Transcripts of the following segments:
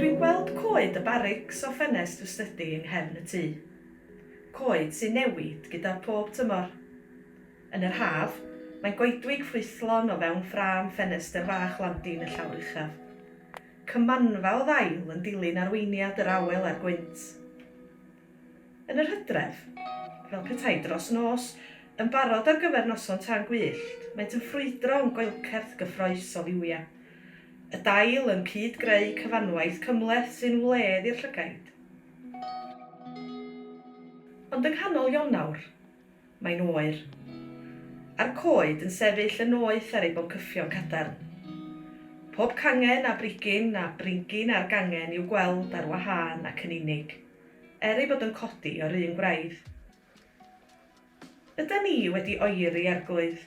Dwi'n gweld coed y barics o ffenest fy stydi yng nghefn y tŷ. Coed sy'n newid gyda phob tymor. Yn yr haf, mae goedwig ffrwythlon o fewn ffrâm ffenestr fach landin y llawr uchaf. Cymanfa o ddail yn dilyn arweiniad yr awel a'r gwynt. Yn yr hydref, fel petai dros nos, yn barod ar gyfer noson tân gwyllt, maent yn ffrwydro yn goelcerth gyffrous o liwia. Y dail yn cyd-greu cyfanwaith cymhleth sy'n wledd i'r llygaid. Ond yng nghanol Ionawr, mae'n oer. A'r coed yn sefyll yn noeth ar eu boncyffion cadarn. Pob cangen a brigyn a bringin ar gangen i'w gweld ar wahân ac yn unig. er ei bod yn codi o'r un gwraidd. Yda ni wedi oeri arglwydd?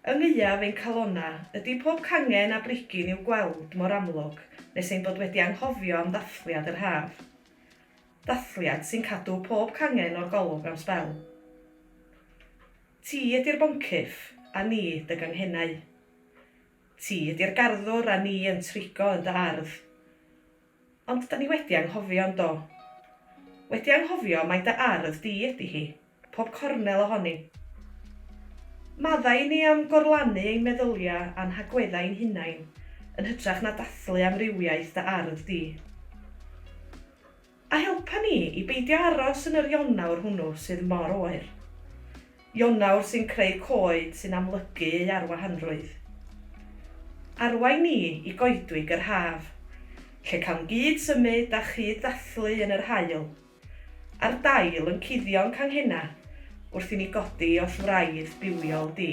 Yng ngeuaf ein calona ydi pob cangen a brigyn i'w gweld mor amlwg nes ein bod wedi anghofio am ddathliad yr haf. Ddathliad sy'n cadw pob cangen o'r golwg am sbel. Ti ydi'r boncyff, a ni dy ganghennau. Ti ydi'r garddwr a ni yn trigo yn dy ardd. Ond 'da ni wedi anghofio, yn do? Wedi anghofio mai dy ardd di ydi hi, pob cornel ohoni. Maddau i ni am gorlanu ein meddyliau a'n hagweddau ein hunain yn hytrach na dathlu amrywiaeth dy ardd di. A helpa ni i beidio aros yn yr Ionawr hwnnw sydd mor oer. Ionawr sy'n creu coed sy'n amlygu ei arwahanrwydd. Arwain ni i goedwig yr haf, lle cawn gyd symud a chyd ddathlu yn yr haul, a'r dail yn cuddio'n canghena wrth i ni godi oll wraidd bywiol di.